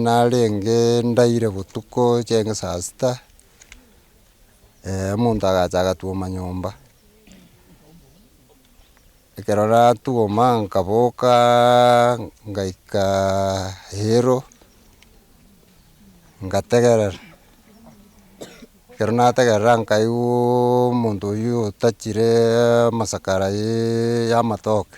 Narenge ndaire botuko chiaenge saa sita, omonto agacha agatwoma nyomba, ekero natwoma nkaboka ngaika eyiro, ngategerera, ekero nategerera nkaigwa omonto oyio otachire amasakara ye- yamatoke,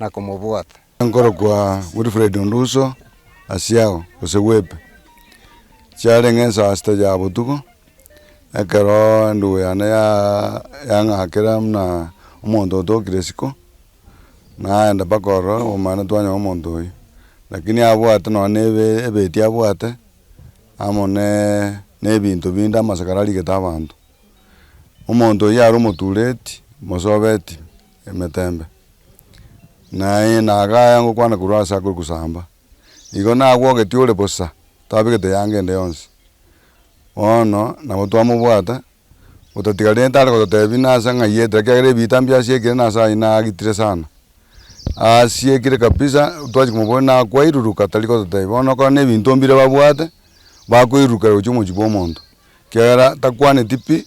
na komobwata. Nkorokwa Wilfred Onduso Asiao, gose Webe, chiare ng'a ensaa sita ya botuko, ekero endugu yane yang'akera buna omonto otokire isiko, naenda mpaka ororo obomanene twanyora omonto oyio. Lakini abwate nonya na ebe ebeti abwate, amo na ebinto binde amasakara arigete abanto. Omonto oyio are omotureti, mosobeti. emetembe, naye nagaya ngokwana korwa aase akore kosamba. Igo nagwogetie ore bosa, tabegete eanga ende yonsi. Bono nabo twamobwata, otatigarete are gototebia nase ng'ai etera, ekiagera ebiita mbio asiekire nase aye nagitire sana. Asiekire kabisa, twachia komoboria nakwairuruka tari gototebia. Bono nokora na ebinto mbire babwate, bakoirurukera gochia omochie bwa omonto, ekiagera takwaneti pi,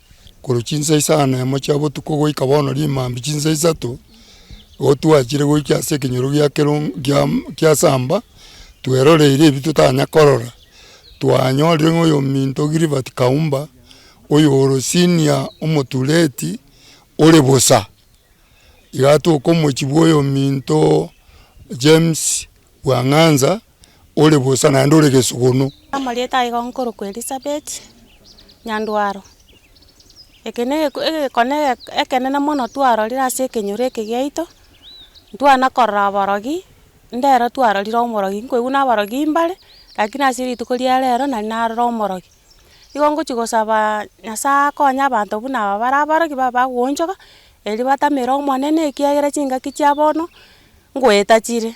korwa chinsa isano na emo chia botuko goika bono rimambia chinsa isato, nigo twachire goika ase ekenyoro gia kerogo gia gia samba, tweroreire ebi totanya korora, twanyorire ng'a oyominto Gilbert Kaumba, oyoro senior omotureti ore bosa, iga tokomochia bwa oyominto James Bwang'anza, ore bosa naende ore gesugunu. Amarieta aye iga nkorokwa Elisabeti, nyandwaro. Eke ne ege- egekone eke- ekenene mono twarorire ase ekenyoro eke giaito, ntwana korora aborogi, ndero twarorire omorogi, nkoigwa na aborogi mbare, rakini ase rituko ria rero nari narora omorogi. Igo ngochia gosabaa Nyasae akonye abanto buna aba bare abarogi babe bagoonchoka, erio batamere Omonene, ekiagera chingaki chia bono, ngoeta chire.